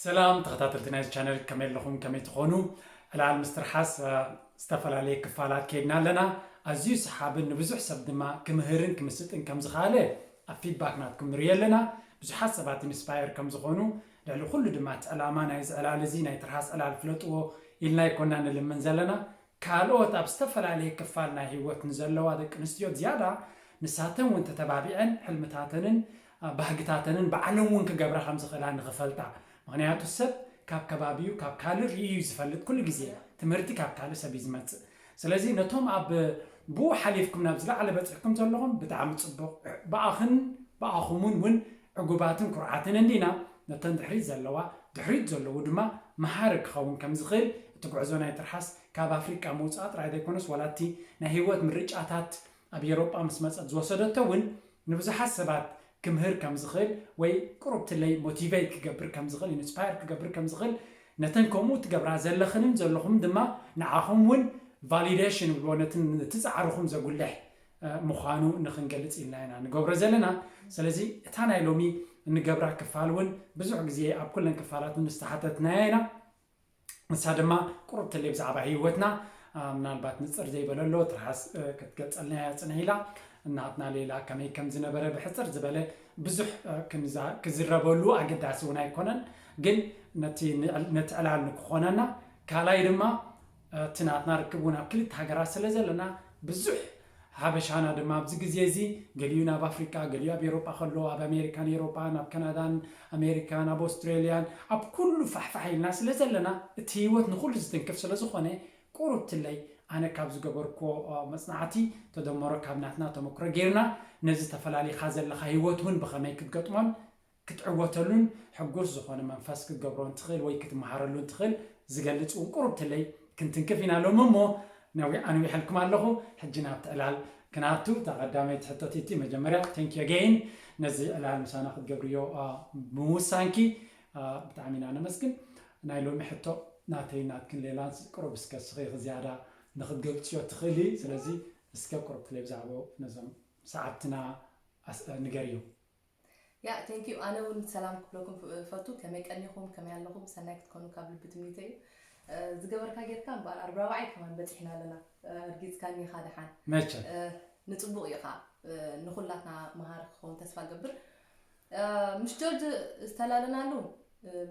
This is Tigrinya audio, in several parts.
ሰላም ተኸታተልቲ ናይዚ ቻነል ከመይ ኣለኹም ከመይ ትኾኑ ዕላል ምስ ትርሓስ ዝተፈላለየ ክፋላት ከይድና ኣለና ኣዝዩ ሰሓብን ንብዙሕ ሰብ ድማ ክምህርን ክምስጥን ከም ዝኸኣለ ኣብ ፊድባክ ናትኩም ንርእዮ ኣለና ብዙሓት ሰባት ኢንስፓየር ከም ዝኾኑ ልዕሊ ኩሉ ድማ እቲ ዕላማ ናይዚ ዕላል እዚ ናይ ትርሃስ ዕላል ፍለጥዎ ኢልና ኣይኮና ንልምን ዘለና ካልኦት ኣብ ዝተፈላለየ ክፋል ናይ ህይወት ንዘለዋ ደቂ ኣንስትዮ ዝያዳ ንሳተን እውን ተተባቢዐን ሕልምታተንን ባህግታተንን ባዕለን እውን ክገብራ ከም ዝኽእላ ንኽፈልጣ ምኽንያቱ ሰብ ካብ ከባቢኡ ካብ ካልእ ርእዩ እዩ ዝፈልጥ ኩሉ ግዜ ትምህርቲ ካብ ካልእ ሰብ እዩ ዝመጽእ ስለዚ ነቶም ኣብ ብኡ ሓሊፍኩም ናብ ዝለዓለ በጺሕኩም ዘለኹም ብጣዕሚ ጽቡቕ ብኣኽን ብኣኹምን እውን ዕጉባትን ኩርዓትን እንዲና፣ ነተን ድሕሪት ዘለዋ፣ ድሕሪት ዘለዉ ድማ መሃሪ ክኸውን ከም ዝኽእል እቲ ጉዕዞ ናይ ትርሓስ ካብ ኣፍሪቃ ምውጻእ ጥራይ ዘይኮነስ ዋላ እቲ ናይ ህይወት ምርጫታት ኣብ ኤሮጳ ምስ መጸት ዝወሰደቶ እውን ንብዙሓት ሰባት ክምህር ከም ዝኽእል ወይ ቁሩብትለይ ሞቲቨይት ክገብር ከም ዝኽእል ኢንስፓየር ክገብር ከም ዝኽእል ነተን ከምኡ ትገብራ ዘለኽንን ዘለኹም ድማ ንዓኹም እውን ቫሊደሽን ይብልዎ ነቲ ጻዕርኹም ዘጉልሕ ምዃኑ ንክንገልጽ ኢልና ኢና ንገብሮ ዘለና። ስለዚ እታ ናይ ሎሚ እንገብራ ክፋል እውን ብዙሕ ግዜ ኣብ ኩለን ክፋላት እውን ዝተሓተትናያ ኢና። ንሳ ድማ ቁሩብ ትልይ ብዛዕባ ህይወትና ምናልባት ንጽር ዘይበለ ኣሎ ትርሓስ ክትገልጸልና እያ ጽንሕ ኢላ ናትና ሌላ ከመይ ከም ዝነበረ ብሕጽር ዝበለ ብዙሕ ክዝረበሉ ኣገዳሲ እውን ኣይኮነን ግን ነቲ ዕላል ንክኾነና ካልኣይ ድማ እቲ ናትና ርክብ እውን ኣብ ክልተ ሃገራት ስለዘለና ብዙሕ ሓበሻና ድማ ኣብዚ ግዜ እዚ ገሊኡ ናብ ኣፍሪቃ ገሊኡ ኣብ ኤሮጳ ከሎ ኣብ ኣሜሪካን ኤሮጳን ኣብ ከናዳን ኣሜሪካን ኣብ ኦስትሬልያን ኣብ ኩሉ ፋሕፋሕ ኢልና ስለዘለና እቲ ህይወት ንኹሉ ዝትንክፍ ስለዝኾነ ቁሩብ ትለይ ኣነ ካብ ዝገበርኩዎ መጽናዕቲ ተደመሮ ካብ ናትና ተመክሮ ጌርና ነዚ ተፈላሊኻ ዘለኻ ህይወት እውን ብኸመይ ክትገጥሞን ክትዕወተሉን ሕጉስ ዝኾነ መንፈስ ክትገብሮን ትኽእል ወይ ክትመሃረሉን ትኽእል ዝገልጽ እውን ቁሩብ ትለይ ክንትንክፍ ኢና ሎሚ እሞ ነዊሕ ኣንዊሐልኩም ኣለኹ ሕጂ ናብቲ ዕላል ክንኣቱ እታ ቀዳመይቲ ሕቶቲ እቲ መጀመርያ ቴንኪ ኣገይን ነዚ ዕላል ምሳና ክትገብርዮ ምውሳንኪ ብጣዕሚ ኢና ነመስግን ናይ ሎሚ ሕቶ ናተይ ናትክን ሌላንስ ቁሩብ እስከ ስኺ ዝያዳ ንክትገልጽዮ ትኽእሊ ስለዚ እስከ ቁሩብ ትለይ ብዛዕባኡ ነዞም ሰዓብትና ንገርዮም ያእ thank you ኣነ ውን ሰላም ክብለኩም እፈቱ ከመይ ቀኒኹም ከመይ ኣለኹም ሰናይ ክትኮኑ ካብ ልቢ ትምኒተይ እዩ ዝገበርካ ጌርካ እምበኣር ኣብ ራብዓይ ከማን በጺሕና ኣለና ኣርጊጽካኒ ኢኻ ደሓን መቸም ንጽቡቕ እዩ ኸኣ ንኹላትና መሃሪ ክኸውን ተስፋ ገብር ምስ ጆርጅ ዝተላለናሉ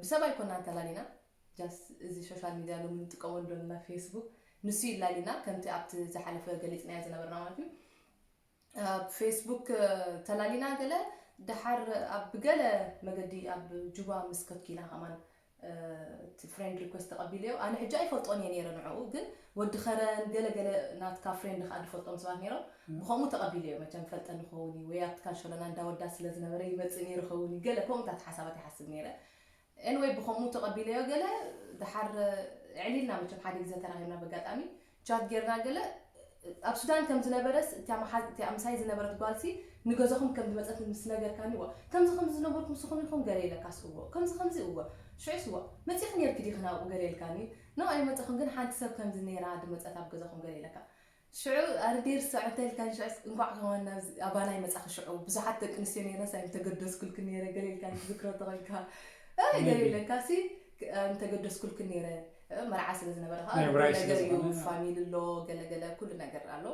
ብሰብ ኣይኮናን ተላሊና ጃስ እዚ ሶሻል ሚድያ ሎሚ ንጥቀመሉ ዘለና ፌስቡክ ንሱ ይላሊና ከምቲ ኣብቲ ዝሓለፈ ገሊጽናዮ ዝነበርና ማለት እዩ ኣብ ፌስቡክ ተላሊና ገለ ደሓር ኣብ ገለ መገዲ ኣብ ጁባ ምስ ከድኪና ከማን እቲ ፍሬንድ ሪኩዌስት ተቐቢለዮ ኣነ ሕጂ ኣይፈልጦን እየ ነይረ ንዕኡ ግን ወዲ ከረን ገለ ገለ ናትካ ፍሬንድ ከኣ ድፈልጦም ሰባት ነይሮም ብከምኡ ተቐቢለዮ መቸም ፈልጠ ንኸውን እዩ ወይ ኣብቲ ካንሸሎና እንዳወዳ ስለ ዝነበረ ይመጽእ ነይሩ ኸውን እዩ ገለ ከምኡታት ሓሳባት ይሓስብ ነይረ Anyway ብከምኡ ተቀቢለዮ ገለ ደሓር ኣዕሊልና መቸም ሓደ ግዘ ተራኪብና በጋጣሚ ቻት ጌርና ገለ ኣብ ሱዳን ከም ዝነበረስ እታ መሓዝ እቲኣ ምሳይ ዝነበረት ጓልሲ ንገዛኩም ከም ዝመጸት ምስ ነገርካኒ እወ ከምዚ ከምዚ ዝነበርኩ ምስኩም ኢኩም ገለ ኢለካስ እወ ከምዚ ከምዚ እወ ሽዑስ እወ መጺኪ ኔርኪ ዲኪ ናብኡ ገለ ኢልካኒ ኖእ ኣይመጸኩን ግን ሓንቲ ሰብ ከምዚ ኔራ ድመጸት ኣብ ገዛኩም ገለ ኢለካ ሽዑ ኣረ ዴር ስዑድ ተልካኒ ሽዑስ እንኳዕ ከማን ናብዚ ኣባና ኣይመጻኺ ሽዑ ብዙሓት ደቂ ኣንስትዮ ነይረንስ ኣይምተገደስኩልክን ነይረ ገለ ኢልካ ትዝክሮ እንተኾይንካ እይ ገለ ኢለካሲ ኣይምተገደስኩልክን ነይረ መርዓ ስለ ዝነበረ ከዓ ናይ ብራይ ስለ ነገር እዩ ዝኾነ። ፋሚሊ ኣሎ ገለገለ ኩሉ ነገር ኣሎ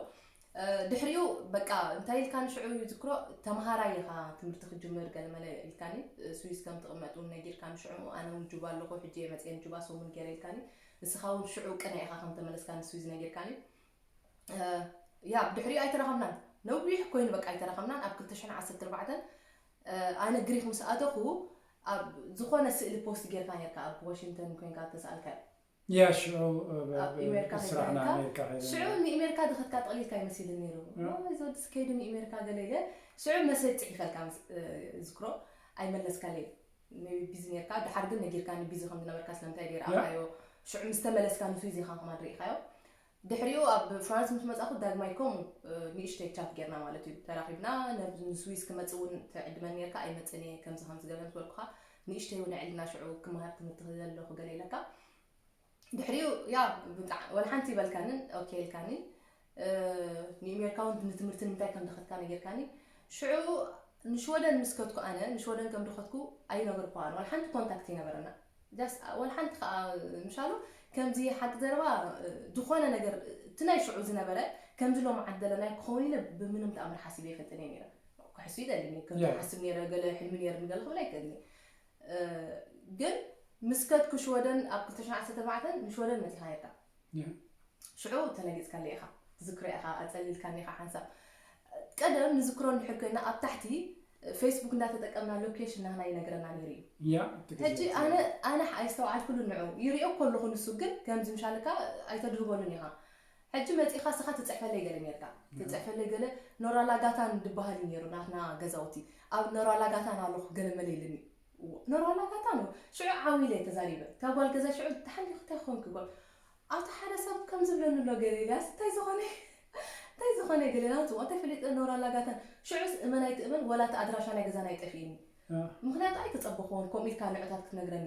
ድሕሪኡ በቃ እንታይ ኢልካኒ ሽዑ ይዝክሮ ተምሃራይ ኢኻ ትምህርቲ ክጅምር ገለመለ ኢልካኒ ስዊስ ከም ትቕመጥ እውን ነጊርካኒ ሽዑ ኣነ እውን ጁባ ኣለኹ ሕጂ እየ መፅኤ ንጁባ ሰሙን ገይረ ኢልካኒ ንስኻ ውን ሽዑ ቅነ ኢኻ ከም ተመለስካ ንስዊዝ ነጊርካኒ ያ ብድሕሪኡ ኣይተራኸብናን ነዊሕ ኮይኑ በቃ ኣይተራኸብናን ኣብ 214 ኣነ ግሪክ ምስ ኣተኹ ኣብ ዝኾነ ስእሊ ፖስት ጌርካ ነርካ ኣብ ዋሽንግተን ኮንካ ተሰኣልካዮ ያ ሽዑ ስራሕና ኣሜሪካ ከይደ ሽዑ ንእሜሪካ ድኸትካ ጠቕሊልካ ይመሲልን ነይሩ እዚ ወዲ ስከይዱ ንእሜሪካ ገለ ኢለ ሽዑ መሰጅ ፅሒፈልካ ዝክሮ ኣይመለስካለይ ንቢዚ ኔርካ ድሓር ግን ነጊርካኒ ቢዚ ከም ዝነበርካ ስለምንታይ ድየ ረኣካዮ ሽዑ ምስ ተመለስካ ንስዊዚ ኢካ ከማን ርኢካዮ ድሕሪኡ ኣብ ፍራንስ ምስ መጻኩ ዳግማይ ከምኡ ንእሽተይ ቻት ጌርና ማለት እዩ ተራኺብና ንስዊዝ ክመጽእ እውን ትዕድመን ኔርካ ኣይመጽእን እየ ከምዚ ከምዚ ገለ ምስ በልኩካ ንእሽተይ እውን ኣዕልና ሽዑ ክመሃር ትምህርቲ ክዘለኩ ገለ ኢለካ ድሕሪኡ ያው ብጣዕ ወላ ሓንቲ ይበልካንን ኦኬ ኢልካኒ ንኤሜርካ ውን ንትምህርቲ ንምንታይ ከም ደኸትካ ነጊርካኒ ሽዑ ንሽወደን ምስ ከትኩ ኣነ ንሽወደን ከም ደኸትኩ ኣይነገርኩዋን ወላ ሓንቲ ኮንታክት ይነበረና ጃስ ወላ ሓንቲ ከዓ ምሻሉ ከምዚ ሓቂ ዘረባ ዝኾነ ነገር እቲ ናይ ሽዑ ዝነበረ ከምዚ ሎም ዓደለ ናይ ክኸውን ኢለ ብምንም ተኣምር ሓሲበ ይፈልጥን እየ ነይረ ክሕሱ ይደሊ ከምዚ ሓስብ ነይረ ገለ ሕልሚ ነይርኒ ገለ ክብል ኣይክእልኒ ግን ምስ ከድኩ ሽወደን ኣብ ክልተ ሽሕን ዓሰርተ ኣርባዕተን ንሽወደን መጺኻ ኔርካ ሽዑ ተለጊጽካለይ ኢኻ ትዝክሮ ኢኻ ኣጸሊልካኒ ኢኻ ሓንሳብ ቀደም ንዝክሮ እንድሕር ኮይና ኣብ ታሕቲ ፌስቡክ እንዳተጠቀምና ሎኬሽን ናህና ይነግረና ነይሩ እዩ ያ እቲ ግዜ ሕጂ ኣነ ኣነ ኣይስተውዓልኩሉን ንዑ ይሪኦ እኮ ኣለኹ ንሱ ግን ከምዚ ምሻልካ ኣይተድህበሉን ኢኻ ሕጂ መጺኻ ስኻ ትጽሕፈለይ ገለ ኔርካ ትጽሕፈለይ ገለ ኖራላጋታን ድባሃል ኢዩ ኔሩ ናትና ገዛውቲ ኣብ ኖራላጋታን ኣሎኹ ገለ መለ ኢልኒ ኖራላጋታን ን ሽዑ ዓው ኢለ ተዛሪበ እታ ጓል ገዛ ሽዑ ድሓን ዲኺ እንታይ ኮንኪ ጓል ኣቲ ሓደ ሰብ ከም ዝብለኒ ኣሎ ገለ ኢለ ኣስ እንታይ ዝኾነ ኢዩ እንታይ ዝኾነ ኢዩ ገለ ኢለ ኣንጽ እንታይ ፈሊጠ ኖራላጋታን ሽዑስ እመን ኣይትእመን ወላ እቲ ኣድራሻ ናይ ገዛና ኢዩ ጠፊእኒ ምኽንያቱ ኣይተጸበኹዎን ከምኡ ኢልካ ንዑታት ክትነግረኒ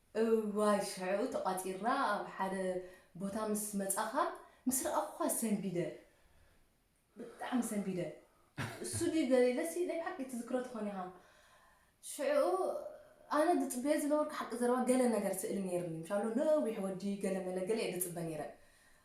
እዋይ ሽዑ ተቛጺርና ኣብ ሓደ ቦታ ምስ መጻኻ ምስ ረኣኹኻ ሰንቢደ ብጣዕሚ ሰንቢደ እሱ ድዩ ገለ ኢለሲ ናይ ብሓቂ ትዝክሮ ትኾን ኢኻ ሽዑ ኣነ ዝጽበዮ ዝነበርኩ ሓቂ ዘረባ ገለ ነገር ስእሊ ነይርኒ ምሻሎ ነዊሕ ወዲ ገለ መለ ገለ እየ ዝጽበ ነይረ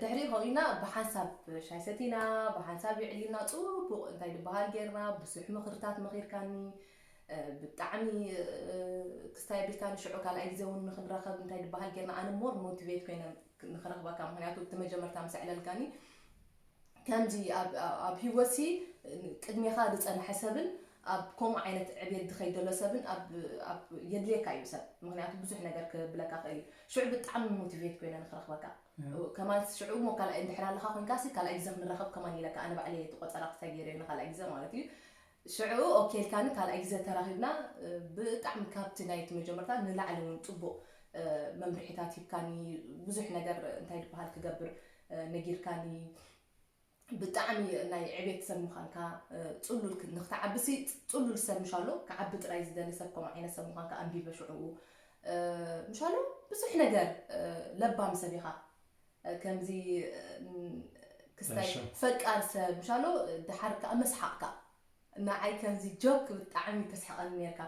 ድሕሪኡ ከምኡ ኢልና ብሓንሳብ ሻሂ ሰቲና ብሓንሳብ የዕሊልና ጽቡቅ እንታይ ድበሃል ጌርና ብዙሕ ምኽርታት መኺርካኒ ብጣዕሚ ክስታይ ኣቢልካኒ ሽዑ ካልኣይ ግዜ እውን ንኽንራኸብ እንታይ ድበሃል ጌርና ኣነ ሞር ሞቲቬት ኮይነ ንኽረኽበካ ምኽንያቱ እቲ መጀመርታ ምስ ኣዕለልካኒ ከምዚ ኣብ ኣብ ሂወትሲ ቅድሜኻ ዝጸንሐ ሰብን ኣብ ከምኡ ዓይነት ዕብየት ዝኸይድ ዘሎ ሰብን ኣብ ኣብ የድልየካ እዩ ሰብ ምኽንያቱ ብዙሕ ነገር ክብለካ ይኽእል እዩ ሽዑ ብጣዕሚ ሞቲቬት ኮይነ ንኽረኽበካ ከማን ሽዑ እሞ ካልኣይ እንድሕር ኣለኻ ኮይንካሲ ካልኣይ ግዜ ክንራኸብ ከማን ኢለካ ኣነ ባዕለይ እቲ ቆጸራ ክሳይ ገይረዮ ንኻልኣይ ግዜ ማለት እዩ ሽዕኡ ኦኬ ኢልካኒ ካልኣይ ግዜ ተራኺብና ብጣዕሚ ካብቲ ናይቲ መጀመርታ ንላዕሊ ውን ጽቡቕ መምርሒታት ሂብካኒ ብዙሕ ነገር እንታይ ድበሃል ክገብር ነጊርካኒ ብጣዕሚ ናይ ዕቤት ሰብ ምዃንካ ጽሉል ንክትዓብሲ ጽሉል ሰብ ምሻሎ ክዓቢ ጥራይ ዝደሊ ሰብ ከምኡ ዓይነት ሰብ ምዃንካ ኣንቢበ ሽዕኡ ምሻሎ ብዙሕ ነገር ለባም ሰብ ኢኻ ከምዚ ክስታይ ፈቃር ሰብ ምሻሎ ደሓር ከኣ መስሓቅካ ንዓይ ከምዚ ጆክ ብጣዕሚ ተስሕቀኒ ኔርካ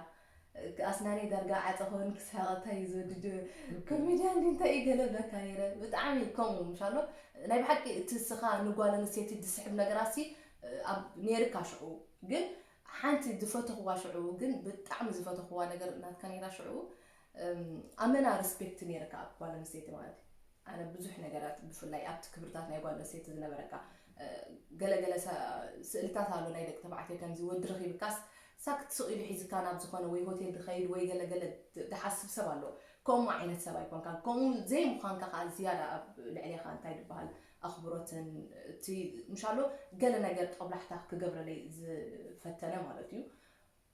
ኣስናነይ ዳርጋ ዓጸ ክበኒ ክስሕቅ እንታይ እዩ ዝወዲ ኮሜድያን ድዩ እንታይ እዩ ገለ እብለካ ኔረ ብጣዕሚ ከምኡ ምሻሎ ናይ ብሓቂ እቲ እስኻ ንጓል ኣንስተይቲ ዝስሕብ ነገራሲ ኔርካ ሽዑ ግን ሓንቲ ዝፈተኽዋ ሽዑ ግን ብጣዕሚ ዝፈተኽዋ ነገር ናትካ ኔራ ሽዑ ኣመና ርስፔክት ነይርካ ኣብ ጓል ኣንስተይቲ ማለት እዩ ኣነ ብዙሕ ነገራት ብፍላይ ኣብቲ ክብርታት ናይ ጓል ኣንስተይቲ ዝነበረካ ገለገለ ስእልታት ኣሎ ናይ ደቂ ተባዕትዮ ከምዚ ወዲ ረኺብካስ ሳክት ስቕ ኢሉ ሒዝካ ናብ ዝኾነ ወይ ሆቴል ድኸይድ ወይ ገለገለ ድሓስብ ሰብ ኣሎ ከምኡ ዓይነት ሰብ ኣይኮንካ ከምኡ ዘይምዃንካ ከዓ ዝያዳ ኣብ ልዕሌኻ እንታይ ድበሃል ኣኽብሮትን እቲ ምሻሎ ገለ ነገር ጠብላሕታ ክገብረለይ ዝፈተነ ማለት እዩ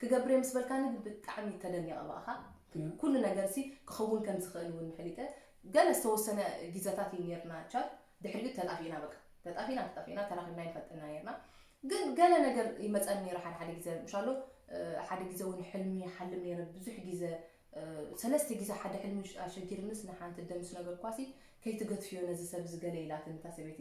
ክገብር'የ ምስ በልካኒ ግን ብጣዕሚ ተደኒቐ ብኣኻ ምክንያቱ ኩሉ ነገርሲ ክኽውን ከም ዝኽእል እውን ፈሊጠ ገለ ዝተወሰነ ጊዘታት እዩ ኔርና ቻድ ድሕሪኡ ተጣፊእና በቃ ተጣፊእና ተጣፊእና ተራኺብና ኣይንፈልጥን ኢና ኔርና ግን ገለ ነገር ይመጸኒ ኔሩ ሓደ ሓደ ጊዘ እንሻሎ ሓደ ጊዘ እውን ሕልሚ ይሓልም ኔረ ብዙሕ ጊዘ ሰለስተ ጊዘ ሓደ ሕልሚ ኣሸጊርንስ ንሓንቲ እደ ምስ ነገርኳሲ ከይትገትፍዮ ነዚ ሰብ እዚ ገለ ኢላትኒ እታ ሰበይቲ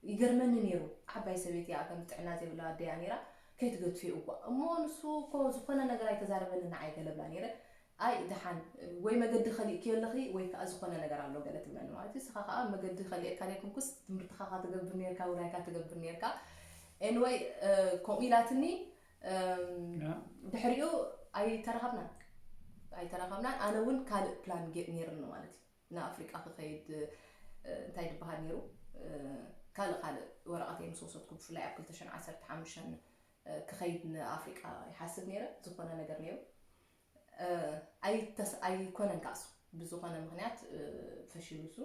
ይገርመኒ ኔሩ ዓባይ ሰበይቲ እያ ከምዚ ጥዕና ዘይብላ ኣደ እያ ኔራ ከይትገድፎ እየ እኳ እሞ ንሱ እኮ ዝኮነ ነገር ኣይተዛረበንን ንዓይ ገለ እብላ ኔረ ኣይ ድሓን ወይ መገዲ ከሊእክዮ ኣለኺ ወይ ክኣ ዝኮነ ነገር ኣሎ ገለ ትብለኒ ማለት እዩ ንስኻ ክኣ መገዲ ከሊኤካ ዘይኮንኩስ ትምህርትኻ እካ ትገብር ኔርካ ውራይካ ትገብር ኔርካ ኤንወይ ከምኡ ኢላትኒ ድሕሪኡ ኣይተራኸብናን ኣይተራኸብናን ኣነ እውን ካልእ ፕላን ጌጥ ኔርኒ ማለት እዩ ንኣፍሪቃ ክከይድ እንታይ ድበሃል ኔሩ ካልእ ካልእ ወረቀተይ ምስ ወሰድኩ ብፍላይ ኣብ ክልተ ሽሕን ዓሰርተ ሓሙሽተን ክከይድ ንኣፍሪቃ ይሓስብ ኔረ ዝኮነ ነገር ኔሩ ኣይኮነን ከኣ እሱ ብዝኮነ ምክንያት ፈሺሉ እሱ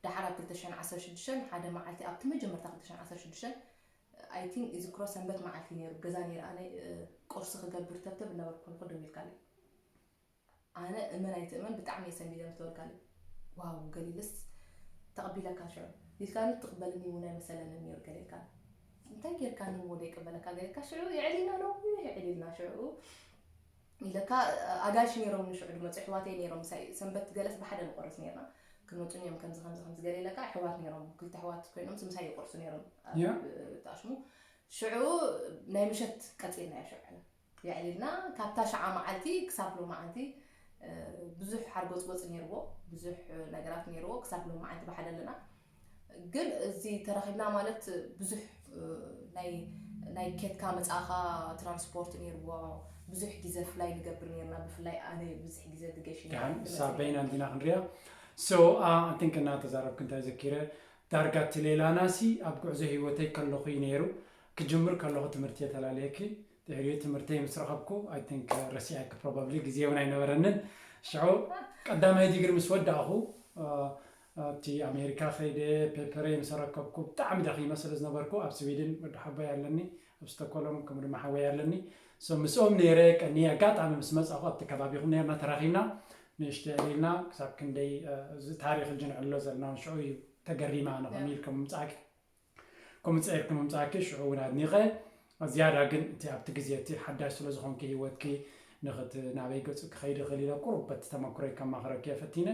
ደሓር ኣብ ክልተ ሽሕን ዓሰርተ ሽዱሽተን ሓደ መዓልቲ ኣብቲ መጀመርታ ክልተ ሽሕን ዓሰርተ ሽዱሽተን ኣይ ቲንክ ይዝክሮ ሰንበት መዓልቲ ኔሩ ገዛ ኔረ ኣነ ቁርሲ ክገብር ተብተብ እናበልኩ ከለኩ ደዊልካለይ ኣነ እመን ኣይትእመን ብጣዕሚ እየ ሰንቢደ ምስ ተበልካኒ ዋው ገሊልስ ተቅቢለካ ሽዑ ኢልካኒ ትቅበልኒ እውን ኣይመሰለንን ነይሩ ገለ ኢልካኒ እንታይ ጌርካኒ እሞ ዘይቅበለካ ገለ ኢልካ ሽዑ የዕሊና ነዊሕ የዕሊልና ሽዑ ኢለካ ኣጋይሽ ነይሮም ንሽዑ ድመፁ ኣሕዋተይ ነይሮም ምሳይ ሰንበት ገለስ ብሓደ ንቆርስ ነይርና ክንመፁን እዮም ከምዚ ከምዚ ከምዚ ገለ ኢለካ ኣሕዋት ነይሮም ክልተ ኣሕዋት ኮይኖም ምሳይ ይቆርሱ ነይሮም ተኣሽሙ ሽዑ ናይ ምሸት ቀፂልናዮ ሽዑ የዕሊልና ካብታ ሽዓ መዓልቲ ክሳብ ሎማዓንቲ ብዙሕ ሓርጎጽጎጽ ነይርዎ ብዙሕ ነገራት ነይርዎ ክሳብ ሎማዓንቲ ብሓደ ኣለና ግን እዚ ተራኺብና ማለት ብዙሕ ናይ ናይ ኬትካ መጻኻ ትራንስፖርት ነይርዎ ብዙሕ ግዜ ፍላይ ንገብር ነርና ብፍላይ ኣነ ብዙሕ ግዜ ድገሽ ድሓን እሳ በይና እንዲና ክንሪያ ሶ ኣንቲንክ እናተዛረብክ እንታይ ዘኪረ ዳርጋ እቲ ሌላናሲ ኣብ ጉዕዞ ሂወተይ ከለኹ እዩ ነይሩ ክጅምር ከለኹ ትምህርቲ'የ ተላልየኪ፣ ድሕሪኡ ትምህርተይ ምስ ረኸብኩ I think ረሲዐኪ probably ግዜ'ውን ኣይነበረንን፣ ሽዑ ቀዳማይ ዲግሪ ምስ ወዳእኹ ኣብቲ ኣሜሪካ ከይደ ፔፐረይ ምስ ኣረከብኩ ብጣዕሚ ደኺመ ስለ ዝነበርኩ ኣብ ስዊድን ወዲ ሓቦይ ኣለኒ ኣብ ስቶኮሎም ከምኡ ድማ ሓወይ ኣለኒ ሶ ምስኦም ነይረ ቀንየ ኣጋጣሚ ምስ መጻኹ ኣብቲ ከባቢኹም ነርና ተራኺብና ንእሽተ ዕሊልና ክሳብ ክንደይ እዚ ታሪክ እዚ ንዕሎ ዘለና ውን ሽዑ እዩ ተገሪማ ኣነ ከምኡ ኢልኩም ምምጻእኪ ከምኡ ጸይርኪ ምምጻእኪ ሽዑ ውን ኣድኒቐ ዝያዳ ግን እቲ ኣብቲ ግዜ እቲ ሓዳሽ ስለ ዝኾንኪ ሂወትኪ ንክት ናበይ ገጹ ክኸይድ ይኽእል ኢለ ቁሩብ በቲ ተመክሮይ ከማኽረኪ እየ ፈቲነ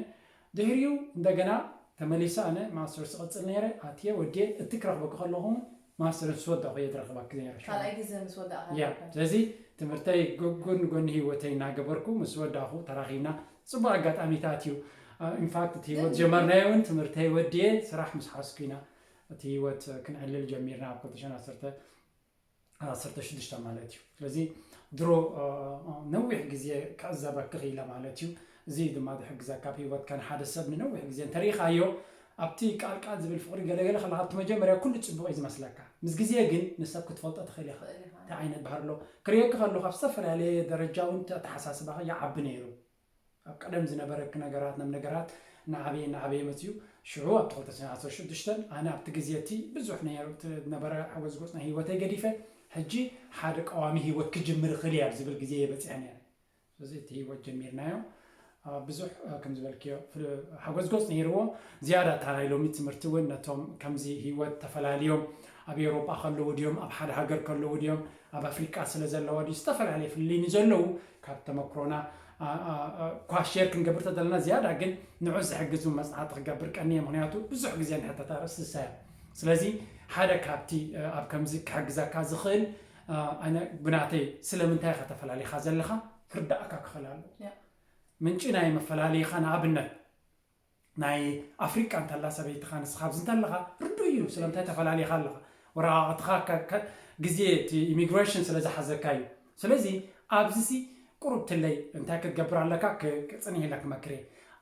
ድሕሪኡ እንደገና ተመሊሰ ኣነ ማስተርስ እቕጽል ነይረ ኣትየ ወድየ እቲ ክረኽበኪ ከለኹ ውን ማስተርስ ምስ ወዳእኩ እየ ዝረኽበኪ ነይረ ሽዑ ካልኣይ ግዘ ምስ ወዳእካ ያ ረኺብካ ስለዚ ትምህርተይ ጎን ጎኒ ሂወተይ እናገበርኩ ምስ ወዳእኩ ተራኺብና ጽቡቕ ኣጋጣሚታት እዩ ኢንፋክት እቲ ሂወት ግን ዝጀመርናዮ ውን ትምህርተይ ወድየ ስራሕ ምስ ሓዝኩ ኢና እቲ ህይወት ክንዕልል ጀሚርና ኣብ ክልተ ሽሕን ዓሰርተ ሽዱሽተ ማለት እዩ። ስለዚ ድሮ ነዊሕ ግዜ ክዕዘበኪ ክኢለ ማለት እዩ። እዚ እዩ ድማ ዝሕግዘካ ኣብ ህይወትካ ንሓደ ሰብ ንነዊሕ ግዜ እንተሪኢኻዮ ኣብቲ ቃልቃል ዝብል ፍቕሪ ገለገለ ከለካ ኣብቲ መጀመርያ ኩሉ ፅቡቕ እዩ ዝመስለካ ምስ ግዜ ግን ንሰብ ክትፈልጦ ትኽእል ኢኻ እንታይ ዓይነት ባህሪ ኣሎ ክርእየኪ ከለኹ ኣብ ዝተፈላለየ ደረጃ እውን ኣተሓሳስባኺ ይዓቢ ነይሩ ኣብ ቀደም ዝነበረ ነገራት ናብ ነገራት እናዓበየ እናዓበየ መጺኡ። ሽዑ ኣብቲ ክልተ ሽሕን ዓሰርተ ሽዱሽተን ኣነ ኣብቲ ግዜ እቲ ብዙሕ ናይ ዝነበረ ሓጎስ ጎጽ ናይ ህይወተይ ገዲፈ ሕጂ ሓደ ቀዋሚ ህይወት ክጅምር እኽእል እየ ኣብ ዝብል ግዜ እየ በጺሐ ነይረ። ስለዚ እቲ ህይወት ጀሚርናዮ ብዙሕ ከም ዝበልክዮ ሓጎስ ጎጽ ነይርዎ። ዝያዳ እታ ናይ ሎሚ ትምህርቲ እውን ነቶም ከምዚ ህይወት ተፈላልዮም ኣብ ኤውሮጳ ከለዉ ድዮም ኣብ ሓደ ሃገር ከለዉ ድዮም ኣብ ኣፍሪቃ ስለ ዘለዋ ድዩ ዝተፈላለየ ፍልልይ ንዘለዉ ካብ ተመክሮና እኳ ሼር ክንገብር ተደለና ዝያዳ ግን ንዑ ዝሕግዝ እውን መፅናዕቲ ክገብር ቀንየ ምክንያቱ ብዙሕ ግዜ ንሕተት ኣርእስቲ ዝሳያ ስለዚ ሓደ ካብቲ ኣብ ከምዚ ክሕግዘካ ዝኽእል ኣነ ብናተይ ስለምንታይ ኢኻ ተፈላሊኻ ዘለኻ ክርዳእካ ክኽእል ኣለዎ ምንጪ ናይ መፈላለይኻ ንኣብነት ናይ ኣፍሪቃ እንተላ ሰበይትኻ ንስኻ ኣብዚ እንተለኻ ርዱእ እዩ ስለምንታይ ተፈላሊኻ ኣለኻ ወረቓቕትኻ ግዜ እቲ ኢሚግሬሽን ስለ ዝሓዘካ እዩ ስለዚ ኣብዚሲ ቁሩብ ትለይ እንታይ ክትገብር ኣለካ ክጽንሂለክ መክሬ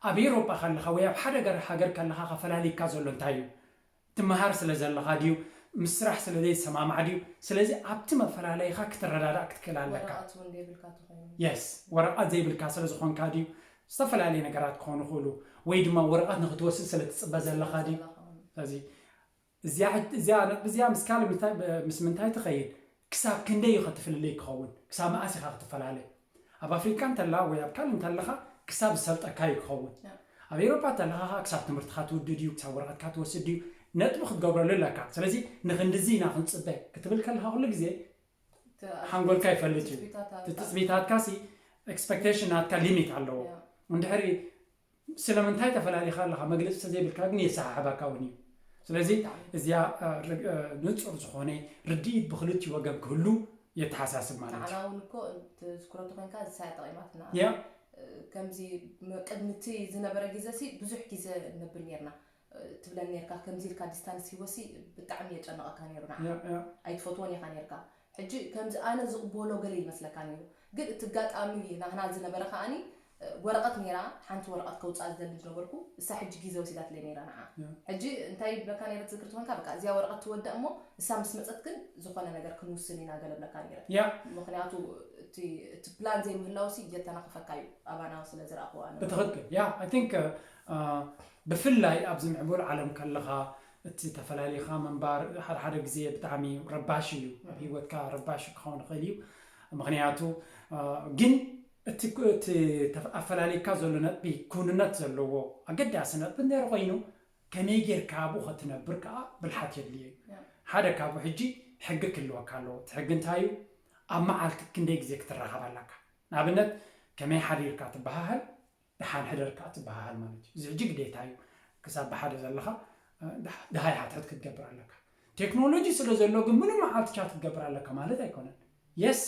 ኣብ ኤሮጳ ከለኻ ወይ ኣብ ሓደ ገር ሃገር ከለኻ ከፈላሊካ ዘሎ እንታይ እዩ ትመሃር ስለ ዘለኻ ድዩ ምስ ስራሕ ስለ ዘይትሰማማዕ ድዩ ስለዚ ኣብቲ መፈላለይኻ ክትረዳዳእ ክትክእል ኣለካ። ወረቀት ውን ዘይብልካ ተኾይኑ። Yes ወረቀት ዘይብልካ ስለ ዝኾንካ ድዩ ዝተፈላለየ ነገራት ክኾኑ ይኽእሉ ወይ ድማ ወረቀት ንኽትወስድ ስለ ትጽበ ትጽበ ዘለኻ ድዩ ዘለኻ ውን። ስለዚ እዚኣ ሕት እዚኣ ነጥቢ እዚኣ ምስ ካልእ ምስ ምስ ምንታይ ትኸይድ ክሳብ ክንደይ እዩ ከ እቲ ፍልልይ ክኸውን? ክሳብ መኣስ ኢኻ ክትፈላለ? ኣብ ኣፍሪቃ እንተላ ወይ ኣብ ካልእ እንተለኻ ክሳብ ዝሰልጠካ እዩ ክኸውን። ኣብ ኤሮፓ እንተለኻ ከኣ ክሳብ ትምህርትኻ ትውዲ ድዩ? ክሳብ ወረቐትካ ትወስድ ድዩ? ነጥቢ ክትገብረሉ ኣለካ። ስለዚ ንክንድዚ ኢና ክንጽበ ክትብል ከለኻ ኩሉ ግዜ ሓንጎልካ ይፈልጥ እዩ። እቲ ትጽቢታትካ ሲ ኤክስፐክተሽን ናትካ ሊሚት ኣለዎ። እንድሕሪ ስለምንታይ ተፈላሊኻ ኣለኻ መግለጺ ተዘይብልካ ግን የሰሓሕባካ ውን እዩ ስለዚ እዚኣ ንጹር ዝኾነ ርድኢት ብኽልቲኡ ወገን ክህሉ የተሓሳስብ ማለት እዩ። ንዓና ውን እኮ ትዝክሮ ተኾይንካ እዚ ሳያ ጠቒማትና እያ። ከምዚ ቅድሚ እቲ ዝነበረ ግዘ ሲ ብዙሕ ግዘ ነብል ኔርና ትብለኒ ኔርካ ከምዚ ኢልካ ዲስታንስ ሂወሲ ብጣዕሚ የጨንቀካ ኔሩ ንዓካ ኣይትፈትዎን ኢካ ኔርካ ሕጂ ከምዚ ኣነ ዝቅቦሎ ገለ ይመስለካ ኔሩ ግን እቲ ጋጣሚ ናህና ዝነበረ ከኣኒ ወረቀት ኔራ ሓንቲ ወረቀት ከውጽኣ ዝደሊ ዝነበርኩ እሳ ሕጂ ጊዘ ወሲዳትለይ ኔራ ንዓ ሕጂ እንታይ ይብለካ ኔረ ትዝክር ተኮንካ በቃ እዚኣ ወረቀት ትወዳእ እሞ እሳ ምስ መጸት ግን ዝኮነ ነገር ክንውስን ኢና ገለ ብለካ ኔረ ምክንያቱ እቲ እቲ ፕላን ዘይምህላውሲ የተናክፈካ እዩ ኣባና ስለ ዝረኣክዎ ኣነ ብትክክል ያ ኣይ ቲንክ ብፍላይ ኣብዚ ምዕቡል ዓለም ከለኻ እቲ ተፈላሊኻ ምንባር ሓደ ሓደ ግዜ ብጣዕሚ ረባሺ እዩ ኣብ ሂወትካ ረባሺ ክኸውን ይኽእል እዩ ምኽንያቱ ግን እቲ እቲ ኣፈላሊካ ዘሎ ነጥቢ ክውንነት ዘለዎ ኣገዳሲ ነጥቢ እንድሕር ኮይኑ ከመይ ጌርካ ኣብኡ ከትነብር ከዓ ብልሓት የድልዮ እዩ ሓደ ካብኡ ሕጂ ሕጊ ክህልወካ ኣለዎ እቲ ሕጊ እንታይ እዩ ኣብ መዓልቲ ክንደይ ግዜ ክትራኸብ ኣለካ ንኣብነት ከመይ ሓዲርካ ትበሃሃል ደሓን ሕደር ከኣ ትበሃሃል ማለት እዩ። እዚ ሕጂ ግዴታ እዩ። ክሳብ ብሓደ ዘለኻ ደሃይ ሓድሕድ ክትገብር ኣለካ። ቴክኖሎጂ ስለ ዘሎ ግን ምሉእ መዓልቲ ቻት ክትገብር ኣለካ ማለት ኣይኮነን። የስ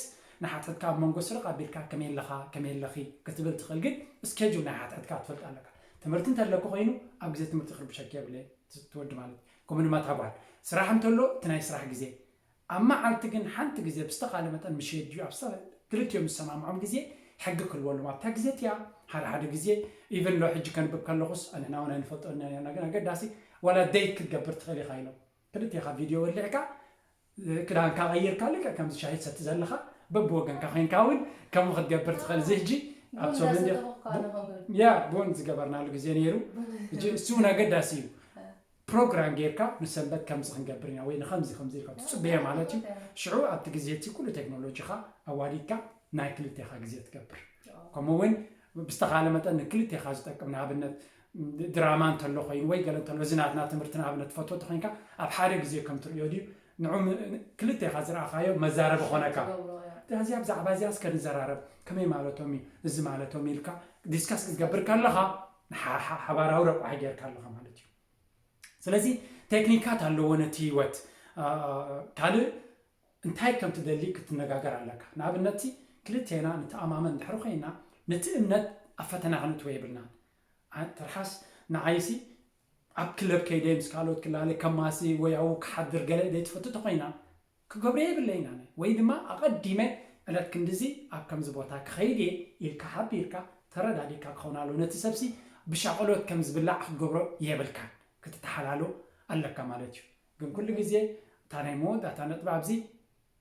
ንሓድሕድካ ኣብ መንጎ ስርቕ ኣቢልካ ከመይ ኣለኻ ከመይ ኣለኺ ክትብል ትኽእል ግን እስኬጁል ናይ ሓድሕድካ ክትፈልጥ ኣለካ። ትምህርቲ እንተለኪ ኮይኑ ኣብ ግዜ ትምህርቲ ክርብሸኪ የብለይን እቲ ወዲ ማለት እዩ ከምኡ ድማ እታ ጓል። ስራሕ እንተሎ እቲ ናይ ስራሕ ግዜ ኣብ መዓልቲ ግን ሓንቲ ግዜ ብዝተኻለ መጠን ምስ ሸድዩ ኣብ ክልቲኦም ዝሰማምዖም ግዜ ሕጊ ክህልወሎም ኣብታ ግዜ እቲኣ ሓደ ሓደ ግዜ ኢቭን ሎ ሕጂ ከንብብ ከለኹስ ኣንሕና ውን ኣይንፈልጦን ኢና ኔርና ግን ኣገዳሲ ዋላ ደይት ክትገብር ትኽእል ኢኻ ኢሎም ክልቴኻ ቪድዮ ወሊዕካ ክዳንካ ቀይርካ ልክዕ ከምዚ ሻሂ ትሰቲ ዘለኻ በብወገንካ ኮይንካ ውን ከምኡ ክትገብር ትኽእል እዚ ሕጂ ኣብ ሰሙን ዲኻ ያ ቡን ዝገበርናሉ ግዜ ነይሩ እሱ ውን ኣገዳሲ እዩ ፕሮግራም ጌርካ ንሰንበት ከምዚ ክንገብር ኢና ወይ ንኸምዚ ከምዚ ኢልካ ትጽበዮ ማለት እዩ። ሽዑ ኣብቲ ግዜ እቲ ኩሉ ቴክኖሎጂኻ ኣዋዲድካ ናይ ክልቴኻ ግዜ ትገብር። ከምኡ እውን ብዝተኻለ መጠን ንክልቴኻ ዝጠቅም ንኣብነት ድራማ እንተሎ ኮይኑ ወይ ገለ እንተሎ እዚ ናትና ትምህርቲ ንኣብነት ትፈትዎ እንተኾይንካ ኣብ ሓደ ግዜ ከም ትርእዮ ድዩ ንዑ ክልቴኻ ዝረኣኻዮ መዛረቢ ኮነካ እዚኣ ብዛዕባ እዚኣ እስከ ንዘራረብ ከመይ ማለቶም እዩ እዚ ማለቶም ኢልካ ዲስከስ ክትገብር ከለኻ ሓባራዊ ረቋሒ ጌርካ ኣለኻ ማለት እዩ ስለዚ ቴክኒካት ኣለዎ ነቲ ህይወት ካልእ እንታይ ከም ትደሊ ክትነጋገር ኣለካ ንኣብነትቲ ክልቴና ንተኣማመን ድሕሪ ኮይና ነቲ እምነት ኣብ ፈተና ክንእትወ የብልናን ትርሓስ ንዓይሲ ኣብ ክለብ ከይደ ምስ ካልኦት ክላለ ከማሲ ወይኣው ክሓድር ገለ ዘይትፈቱ ተኮይና ክገብሮ የብለይን ኣነ ወይ ድማ ኣቐዲመ ዕለት ክንድዚ ኣብ ከምዚ ቦታ ክኸይድ እየ ኢልካ ሓቢርካ ተረዳዲእካ ክኸውን ኣለዎ ነቲ ሰብሲ ብሻቕሎት ከም ዝብላዕ ክትገብሮ የብልካን ክትተሓላሎ ኣለካ ማለት እዩ ግን ኩሉ ግዜ እታ ናይ መወዳእታ ነጥቢ ኣብዚ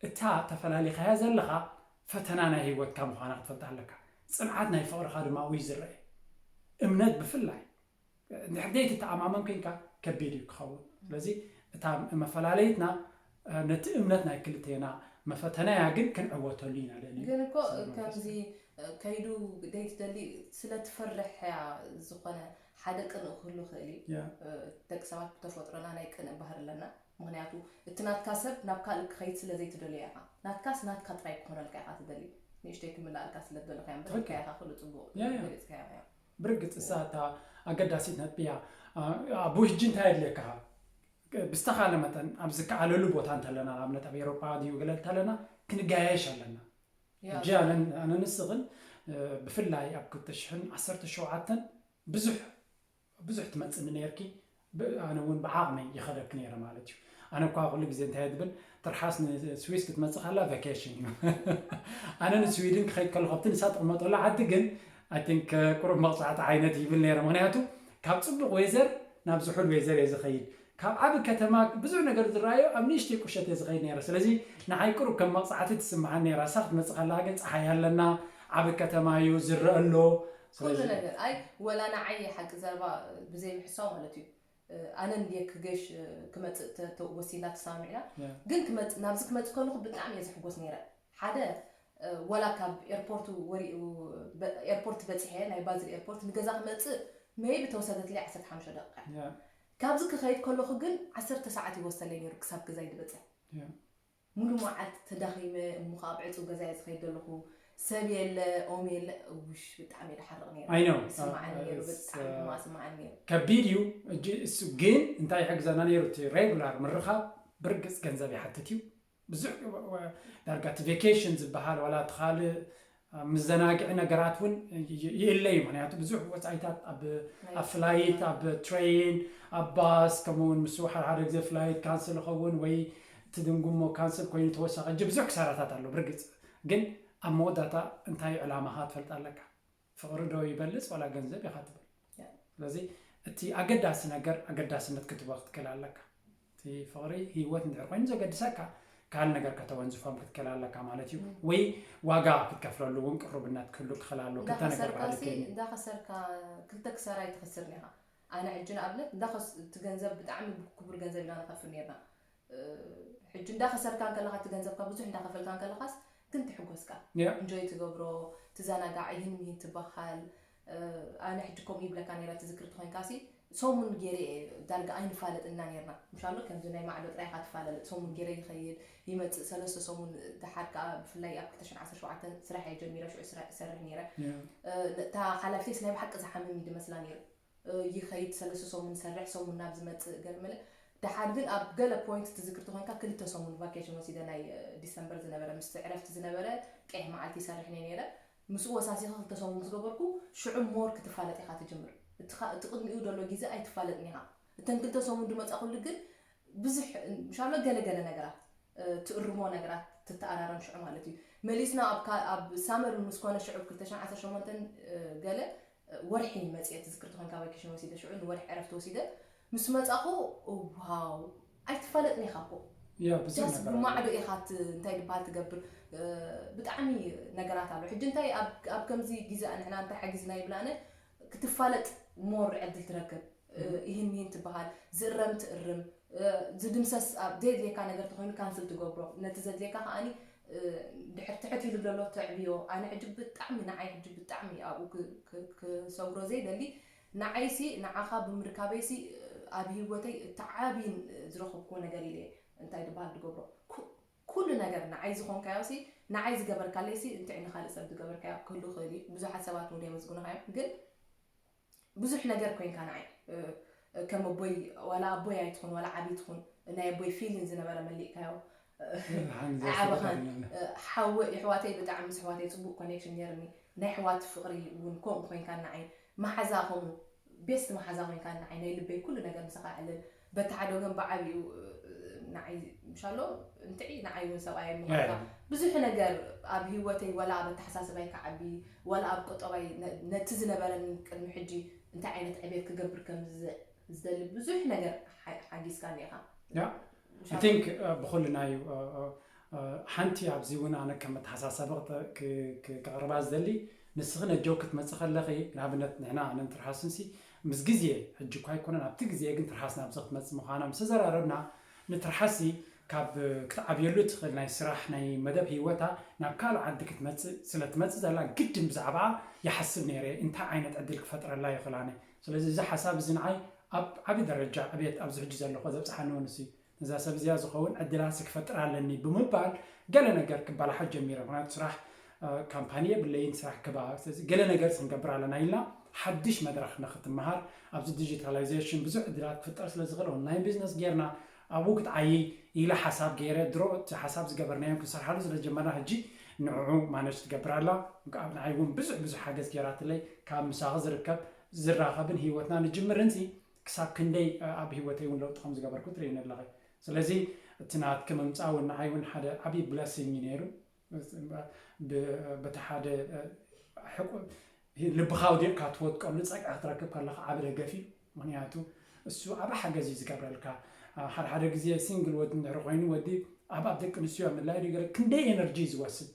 እታ ተፈላሊኻያ ዘለኻ ፈተና ናይ ሂወትካ ምዃና ክትፈልጣ ኣለካ ጽንዓት ናይ ፍቕርኻ ድማ ኣብኡ እዩ ዝረኤ እምነት ብፍላይ እንድሕር ዘይትተኣማመን ኮይንካ ከቢድ እዩ ክኸውን። ስለዚ እታ መፈላለይትና ነቲ እምነት ናይ ክልቴና መፈተናያ ግን ክንዕወተሉ ኢና ልዕሊ ግን እኮ ከምዚ ከይዱ ዘይትደሊ ስለ ትፈርሕ እያ ዝኾነ ሓደ ቅንእ ክህሉ ይኽእል እዩ ያ ደቂ ሰባት ብተፈጥሮና ናይ ቅንእ ባህሪ ኣለና ምክንያቱ እቲ ናትካ ሰብ ናብ ካልእ ክኸይድ ስለ ዘይትደልዮ ኢኻ ናትካስ ናትካ ጥራይ ክኾነልካ ኢኻ ትደሊ ንእሽተይ ክምላኣልካ ስለ ትደሊ እኮ እያ እምበር ኢልካያ ኢኻ ኩሉ ጽቡቕ ያ፣ ያ። ገሊጽካዮ ኢኻ ብርግጽ ንሳ እታ ኣገዳሲት ነጥቢ እያ። ኣቡ ሕጂ እንታይ የድልየካ? ብዝተኻለ መጠን ኣብ ዝከኣለሉ ቦታ እንተለና ንኣብነት ኣብ ኤሮፓ ድዩ ገለ እንተለና ክንጋየሽ ኣለና ሕጂ ኣነ ንስኽን ብፍላይ ኣብ 217 ብዙሕ ብዙሕ ትመፅኒ ነርኪ ኣነ ውን ብዓቅመይ ይከደኪ ነይረ ማለት እዩ ኣነ እኳ ኩሉ ግዜ እንታይ እየ ዝብል ትርሓስ ንስዊስ ክትመፅእ ከላ ቫኬሽን እዩ ኣነ ንስዊድን ክከይድ ከለኩ ኣብቲ ንሳ ትቅመጠሉ ዓዲ ግን ኣይ ቲንክ ቁሩብ መቅፃዕቲ ዓይነት ይብል ነይረ ምክንያቱ ካብ ፅቡቅ ዌዘር ናብ ዝሑል ዌዘር እየ ዝከይድ ካብ ዓቢ ከተማ ብዙሕ ነገር ዝረኣዮ ኣብ ንእሽተይ ቁሸት እየ ዝከይድ ነይረ ስለዚ ንዓይ ቁሩብ ከም መቅፃዕቲ ትስምዓኒ ነይራ ንሳ ክትመፅእ ከለካ ግን ፀሓይ ኣለና ዓቢ ከተማ እዩ ዝረአ ኣሎ ኩሉ ስለዚ ነገር ኣይ ወላ ንዓይ ሓቂ ዘረባ ብዘይ ምሕሳው ማለት እዩ ኣነ እንድየ ክገሽ ክመጽእ ተ- ተ- ወሲና ተሰማሚዕና ያ ግን ክመጽ ናብዚ ክመጽእ ከለኹ ብጣዕሚ እየ ዝሕጎስ ነይረ ሓደ እ፣ ወላ ካብ ኤርፖርት ወሪ እ፣ በ- ኤርፖርት በጺሐ ናይ ባዝል ኤርፖርት ንገዛ ክመጽእ መይቢ ተወሰደትለይ ዓሰርተ ሓሙሽተ ደቂቃ እያ ያ ካብዚ ክኸይድ ከለኹ ግን ዓሰርተ ሰዓት ይወሰለይ ነይሩ ክሳብ ገዛይ ድበጽሕ ያ ሙሉእ መዓልቲ ተዳኺመ እሞ ከኣ ኣብ ዕጹው ገዛ'የ ዝኸይድ ዘለኹ ሰብ የለ ኦም የለ እውሽ ብጣዕሚ ደሓርቕ ነይረ I know ይስማዓኒ uh, ነይሩ it's, ብጣዕሚ uh, ሕማቕ ይስማዓኒ ነይሩ ከቢድ እዩ እጅ እሱ ግን እንታይ ይሕግዘና ነይሩ እቲ ሬጉላር ምርኻብ ብርግፅ ገንዘብ ይሓትት እዩ ብዙሕ ወ- ዳርጋ እቲ ቬኬሽን ዝበሃል ዋላ እቲ ካልእ ኣብ ምዘናግዒ ነገራት እውን ይእለ እዩ። ምክንያቱ ብዙሕ ወፃኢታት ኣብ ፍላይት፣ ኣብ ትሬይን፣ ኣብ ባስ ከምኡ እውን ምስ ሓደ ሓደ ግዜ ፍላይት ካንስል ይኸውን ወይ እቲ ድንጉሞ ካንስል ኮይኑ ተወሳኺ እጅ ብዙሕ ክሳራታት ኣሎ። ብርግፅ ግን ኣብ መወዳእታ እንታይ ዕላማኻ ትፈልጥ ኣለካ። ፍቕሪ ዶ ይበልፅ ዋላ ገንዘብ ኢኻ ትብል። ስለዚ እቲ ኣገዳሲ ነገር ኣገዳስነት ክትቦ ክትክል ኣለካ እቲ ፍቕሪ ህይወት እንድሕር ኮይኑ ዘገድሰካ ካልእ ነገር ከተወንዝፎም ክትክል ኣለካ ማለት እዩ ወይ ዋጋ ክትከፍለሉ እውን ቅሩብነት ክህሉ ክኽል ኣለዎ ክልተ ነገር እንዳኸሰርካ ባህሊ ሲ ክህሉ እዩ። እንዳኸሰርካ ክልተ ክሳራ ኣይትኸስርን ኢኻ ኣነ ሕጂ ንኣብነት እንዳኸስ እቲ ገንዘብ ብጣዕሚ ክቡር ገንዘብ ኢና ንኸፍል ኔርና ሕጂ እንዳ ከሰርካ እንከለኻ እቲ ገንዘብካ ብዙሕ እንዳ ከፈልካ እንከለኻስ ግን ትሕጎስካ እንጆይ ትገብሮ ትዛናጋዕ ይህን ምሂን ትባሃል ኣነ ሕጂ ከምኡ ይብለካ ነይረ ትዝክር ተኾይንካሲ ሰሙን ጌሬ ዳርጋ ኣይንፋለጥ እና ኔርና ምሻሎ ከምዚ ናይ ማዕዶ ጥራይ ኢኻ ትፈላለጥ ሰሙን ጌሬ ይኸይድ ይመጽእ ሰለስተ ሰሙን ድሓር ከኣ ብፍላይ ኣብ 2017 ስራሕ እየ ጀሚረ ሽዑ ስራሕ ይሰርሕ ነይረ እታ ሓላፊተይስ ናይ ብሓቂ ዝሓምም እዩ ድመስላ ነይሩ ይኸይድ ሰለስተ ሰሙን ይሰርሕ ሰሙን ናብ ዝመጽእ ገለመለ ደሓር ግን ኣብ ገለ ፖይንት ትዝክርቲ ኮንካ ክልተ ሰሙን ቫኬሽን ወሲደ ናይ ዲሰምበር ዝነበረ ምስቲ ዕረፍቲ ዝነበረ ቄሕ መዓልቲ ይሰርሕ እኔ ነይረ ምስኡ ወሳሲኸ ክልተ ሰሙን ምስ ገበርኩ ሽዑ ሞር ክትፋለጥ ኢኻ ትጅምር እቲኻ እቲ ቅድሚኡ ደሎ ጊዘ ኣይትፋለጥን ኢኻ እተን ክልተ ሰሙን ድመጻኹሉ ግን ብዙሕ ምሻሎ ገለ ገለ ነገራት ትእርሞ ነገራት ትተኣራረም ሽዑ ማለት እዩ መሊስና ኣብ ሳመር ምስ ኮነ ሽዑ 218 ገለ ወርሒ መጽየ ትዝክር ተኮንካ ቫይከሽን ወሲደ ሽዑ ንወርሒ ዕረፍቲ ወሲደ ምስ መጻኹ ዋው ኣይትፋለጥን ኢኻ እኮ ያ ብዙሕ ዳስ ነገር ኣሎ ብማዕዶ ኢኻ ት- እንታይ ድበሃል ትገብር እ፣ ብጣዕሚ ነገራት ኣሎ ሕጂ እንታይ ኣብ ኣብ ከምዚ ግዜ ንሕና እንታይ ሓጊዝና ይብል ኣነ ክትፋለጥ ሞር ዕድል ትረክብ እ፣ ይህን ይህን ትበሃል ዝእረም ትእርም እ፣ ዝድምሰስ ኣብ ዘየድልየካ ነገር ተኮይኑ ካንስል ትገብሮ ነቲ ዘድልየካ ከዓኒ ድሕር ትሕት ኢሉ ደሎ ተዕብዮ ኣነ ሕጂ ብጣዕሚ ንዓይ ሕጂ ብጣዕሚ ኣብኡ ክሰግሮ ዘይደሊ ንዓይሲ ንዓኻ ብምርካበይሲ ኣብ ሂወተይ እቲ ዓብይን ዝረኸብክዎ ነገር ኢለ እንታይ ድበሃል ድገብሮ ኩሉ ነገር ንዓይ ዝኾንካዮሲ ንዓይ ዝገበርካለይሲ እንታይ ንኻልእ ሰብ ዝገበርካዮ ክህሉ ይኽእል እዩ ብዙሓት ሰባት እውን የመስግኑኻ እዮም ግን ብዙሕ ነገር ኮንካ ንዓይ ከም ኣቦይ ዋላ ኣቦይ ኣይትኹን ዋላ ዓብይ ትኹን ናይ ኣቦይ ፊሊን ዝነበረ መሊእካዮ ኣይዓበኻን ሓወ የሕዋተይ ብጣዕሚ ምስ ኣሕዋተይ ፅቡቅ ኮኔክሽን ነይርኒ ናይ ኣሕዋት ፍቅሪ እውን ከምኡ ኮንካ ንዓይ መሓዛ ከምኡ ቤስት መሓዛ ኮንካ ንዓይ ናይ ልበይ ኩሉ ነገር ምሳኻ ዕልል በቲ ሓደ ወገን በዓል እዩ ንዓይ ምሻሎ እንትዒ ንዓይ እውን ሰብኣይ ምዃንካ ብዙሕ ነገር ኣብ ህይወተይ ወላ ኣብ ኣተሓሳስባይ ክዓቢ ወላ ኣብ ቁጠባይ ነቲ ዝነበረኒ ቅድሚ ሕጂ እንታይ ዓይነት ዕቤት ክገብር ከም ዝደሊ ብዙሕ ነገር ሓጊዝካኒ ኢኻ I think ብኩልና እዩ ሓንቲ ኣብዚ እውን ኣነ ከም መተሓሳሰቢ ክቕርባ ዝደሊ ንስኺ ነጆ ክትመፂ ከለኺ ንኣብነት ንሕና ኣነን ትርሃስንሲ ምስ ግዜ፣ ሕጂ እኳ ኣይኮነን ኣብቲ ግዜ ግን ትርሓስ ናብዚ ክትመጽእ ምዃና ምስ ተዘራረብና፣ ንትርሓስሲ ካብ ክትዓብየሉ እትኽእል ናይ ስራሕ ናይ መደብ ህይወታ ናብ ካልእ ዓዲ ክትመጽእ ስለ እትመጽእ ዘላ ግድን ብዛዕባኣ ይሓስብ ነይረ እንታይ ዓይነት ዕድል ክፈጥረላ ይኽእል ኣነ ስለዚ እዚ ሓሳብ እዚ ንዓይ ኣብ ዓቢ ደረጃ ዕብየት ኣብዚ ሕጂ ዘለኹ ዘብጽሓኒ ውን ንሱ እዩ። ነዛ ሰብ እዚኣ ዝኸውን ዕድላትሲ ክፈጥር ኣለኒ ብምባል ገለ ነገር ክበላሓት ጀሚረ። ምክንያቱ ስራሕ ካምፓኒ የብለይን፣ ስራሕ ግባ፣ ስለዚ ገለ ነገር ክንገብር ኣለና ኢልና ሓድሽ መድረኽ ንክትመሃር ኣብዚ ዲጂታላይዜሽን ብዙሕ ዕድላት ክፍጠር ስለ ዝኽእል ኦንላይን ቢዝነስ ጌርና ኣብኡ ክትዓይይ ኢለ ሓሳብ ገይረ ድሮ እቲ ሓሳብ ዝገበርናዮ ክንሰርሓሉ ስለ ዝጀመርና ሕጂ ንዕዑ ማነጅ ትገብር ኣላ ኣብ ንዓይ እውን ብዙሕ ብዙሕ ሓገዝ ገይራትለይ ካብ ምሳኺ ዝርከብ ዝራኸብን ሂወትና ንጅምርን ሲ ክሳብ ክንደይ ኣብ ሂወተይ ውን ለውጢ ከምዝገበርኩ ትርእይኒ ኣለኺ ስለዚ እቲ ናትኪ ምምጻእ ውን ንዓይ ውን ሓደ ዓቢ blessing እዩ ኔሩ በቲ ሓደ ልብኻ ኣውዲቕካ ትወድቀሉ ጸግዒ ክትረክብ ከለኻ ዓቢ ደገፍ እዩ ምኽንያቱ እሱ ዓቢ ሓገዝ እዩ ዝገብረልካ ሓደ ሓደ ግዜ ሲንግል ወዲ እንድሕሪ ኮይኑ ወዲ ኣብ ኣብ ደቂ ኣንስትዮ ምላይ ክንደይ ኤነርጂ እዩ ዝወስድ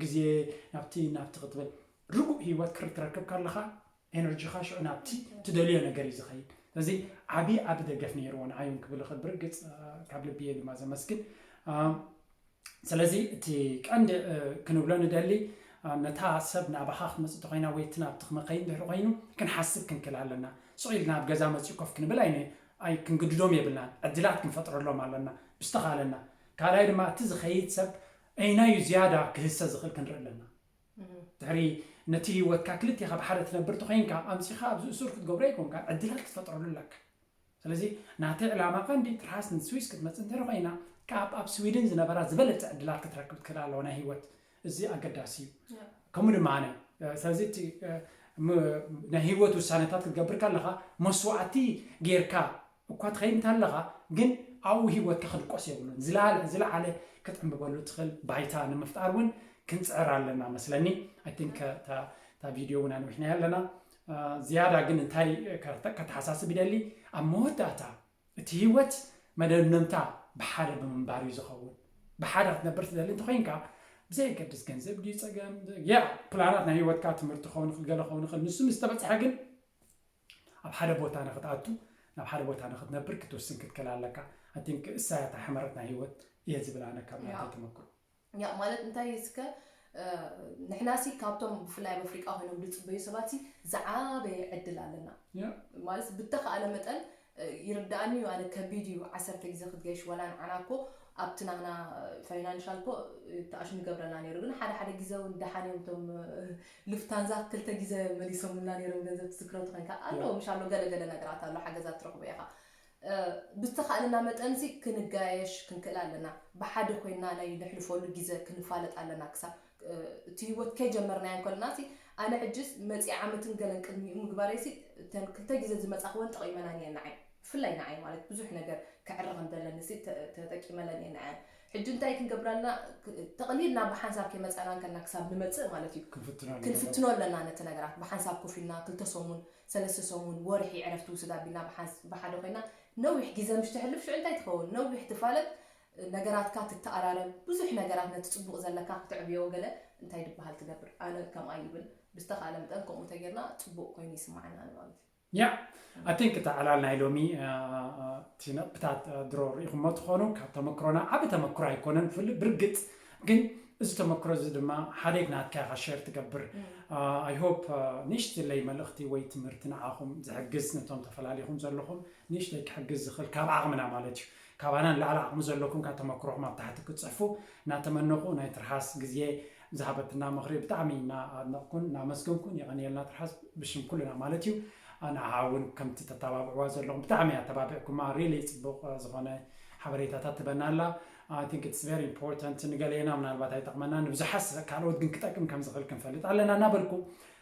ግዜ ናብቲ ናብቲ ክትብል ርጉእ ሂወት ክርትረክብ ከለኻ ኤነርጂኻ ሽዑ ናብቲ ትደልዮ ነገር እዩ ዝኸይድ ስለዚ ዓብዪ ዓቢ ደገፍ ነይርዎ ንዓይ ውን ክብል ይኽእል ብርግጽ ካብ ልቢ እየ ድማ ዘመስግን ስለዚ እቲ ቀንዲ ክንብሎ ንደሊ ነታ ሰብ ናባኻ ክትመፅእ ተኮይና ወይ እቲ ናብቲ ክመኸይን ድሕሪ ኮይኑ ክንሓስብ ክንክል ኣለና ስቕ ኢልና ኣብ ገዛ መፅኡ ኮፍ ክንብል ኣይነ ኣይ ክንግድዶም የብልናን ዕድላት ክንፈጥረሎም ኣለና ብዝተኻለና ካልኣይ ድማ እቲ ዝኸይድ ሰብ ኣየናይ እዩ ዝያዳ ክህሰ ዝኽእል ክንርኢ ኣለና። ድሕሪ ነቲ ህይወትካ ክልቴኻ ብሓደ ትነብር ተኾይንካ ኣምጺኻ ኣብዚ እሱር ክትገብሮ ኣይኮንካን ዕድላት ክትፈጥረሉ ኣለካ። ስለዚ ናተይ ዕላማ ቀንዲ ትርሃስ ንስዊስ ክትመጽእ እንተ ኮይና ካብ ኣብ ስዊድን ዝነበራ ዝበለጸ ዕድላት ክትረክብ ትክእል ኣለዋ ናይ ህይወት እዚ ኣገዳሲ እዩ። ከምኡ ድማ ኣነ ስለዚ እቲ ናይ ህይወት ውሳነታት ክትገብር ከለኻ መስዋእቲ ጌርካ እኳ ትኸይድ እንተለኻ ግን ኣብኡ ህይወትካ ክድቆስ የብሉን። ዝላለ ዝለዓለ ከተንብበሉ እትኽእል ባይታ ንምፍጣር እውን ክንጽዕር ኣለና መስለኒ። ኣይ ቲንክ እታ እታ ቪድዮ እውን ኣንዊሕናያ ኣለና። ዝያዳ ግን እንታይ ከተሓሳስብ ይደሊ ኣብ መወዳእታ እቲ ህይወት መደምደምታ ብሓደ ብምንባር እዩ ዝኸውን። ብሓደ ክትነብር ትደሊ እንተኮይንካ ብዘየገድስ ገንዘብ ድዩ ጸገም ያ ፕላናት ናይ ህይወትካ ትምህርቲ ክኸውን ይኽእል ገለ ክኸውን ይኽእል ንሱ ምስ ተበጽሐ ግን ኣብ ሓደ ቦታ ንክትኣቱ ናብ ሓደ ቦታ ንክትነብር ክትውስን ክትክል ኣለካ ኣይ ቲንክ እሳ እያ እታ ሕመረት ናይ ሂወት እየ ዝብል ኣነ ካብ ናተይ ተመክሮ ያ ማለት እንታይ እስከ ንሕና ሲ ካብቶም ብፍላይ ኣብ ኣፍሪቃ ኮይኖም ዝፅበዩ ሰባት ሲ ዝዓበየ ዕድል ኣለና ማለት ብተኸኣለ መጠን ይርዳእኒ እዩ ኣነ ከቢድ እዩ ዓሰርተ ግዜ ክትገሽ ወላ ንዓና እኮ ኣብቲ ናህና ፋይናንሻል እኮ ተኣሽ ንገብረና ነይሩ ግን ሓደ ሓደ ግዜ እውን ደሓን እዮም እቶም ሉፍታንዛ ክልተ ጊዘ መሊሶሙልና ነይሮም ገንዘብ ትዝክሮ ተኮንካ ኣሎ ምሽ ኣሎ ገለ ገለ ነገራት ኣሎ ሓገዛት ትረክቦ ኢካ ብዝተካእለና መጠን ሲ ክንጋየሽ ክንክእል ኣለና ብሓደ ኮይና ናይ ንሕልፎሉ ጊዘ ክንፋለጥ ኣለና ክሳብ እቲ ሂወት ከይ ጀመርናዮ ከለና ሲ ኣነ ሕጂ መጺኣ ዓመትን ገለን ቅድሚኡ ምግባረይ ሲ እተን ክልተ ጊዘ ዝመጻክወን ጠቂመናን እየን ንዓይ ብፍላይ ንዓይ ማለት ብዙሕ ነገር ከዕሪ ከምዘለኒ ሲ ተጠቂመለን እየን ንዐን ሕጂ እንታይ ክንገብር ኣለና ጠቕሊልና ብሓንሳብ ከይመጻእና እንከለና ክሳብ ንመጽእ ማለት እዩ ክንፍትኖ ኣለና ነቲ ነገራት ብሓንሳብ ኮፍ ኢልና ክልተ ሰሙን ሰለስተ ሰሙን ወርሒ ዕረፍቲ ውስድ ኣቢልና ብሓደ ኮይና ነዊሕ ግዜ ምሽ ተሕልፍ ሽዑ እንታይ ትኸውን ነዊሕ ትፋለጥ ነገራትካ ትተኣራረብ ብዙሕ ነገራት ነቲ ጽቡቕ ዘለካ ክተዕብዮ ገለ እንታይ ድበሃል ትገብር ኣነ ከምኣ ይብል ብዝተኻእለ መጠን ከምኡ ተጌርና ጽቡቕ ኮይኑ ይስማዓና ንማለት እዩ Yeah I think እቲ ዕላል ናይ ሎሚ እቲ ነጥብታት ድሮ ርኢኹሞ ትኾኑ ካብ ተመክሮና ዓቢ ተመክሮ ኣይኮነን ፍል ብርግጽ ግን እዚ ተመክሮ እዚ ድማ ሓደት ናትካ ኢኻ ሸር ትገብር I hope ንእሽትለይ መልእኽቲ ወይ ትምህርቲ ንዓኹም ዝሕግዝ ነቶም ተፈላሊኹም ዘለኹም ንእሽተይ ክሕግዝ ዝኽእል ካብ ዓቕምና ማለት እዩ ካባና ንላዕሊ ዓቕሚ ዘለኩም ካብ ተመክሮኹም ኣብ ታሕቲ ክትጽሕፉ ናተመነኹ ናይ ትርሓስ ግዜ ዝሃበትና ምኽሪ ብጣዕሚ እና ኣድነቕኩን ናመስገንኩን የቐንየልና ትርሓስ ብሽም ኩልና ማለት እዩ ንዓዓ ውን ከምቲ ተታባብዕዋ ዘለኹም ብጣዕሚ እያ ኣተባቢዕኩማ ሪሊ ጽቡቕ ዝኾነ ሓበሬታታት ትበና ኣላ ኣይ ቲንክ ኢትስ ቨሪ ኢምፖርታንት ንገሌና ምናልባት ኣይጠቕመና ንብዙሓት ካልኦት ግን ክጠቅም ከም ዝኽእል ክንፈልጥ ኣለና እናበልኩ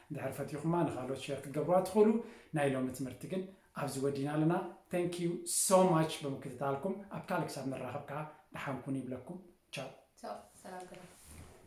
እንድሕር ፈቲኹማ ንኻልኦት ሼር ክትገብርዋ ትኽእሉ ናይ ሎሚ ትምህርቲ ግን ኣብዚ ወዲና ኣለና thank you so much ብምክትታልኩም ኣብ ካልእ ክሳብ ንራኸብ ከኣ ደሓን ኩኑ ይብለኩም ቻው። ቻው ሰላም ግበሩ።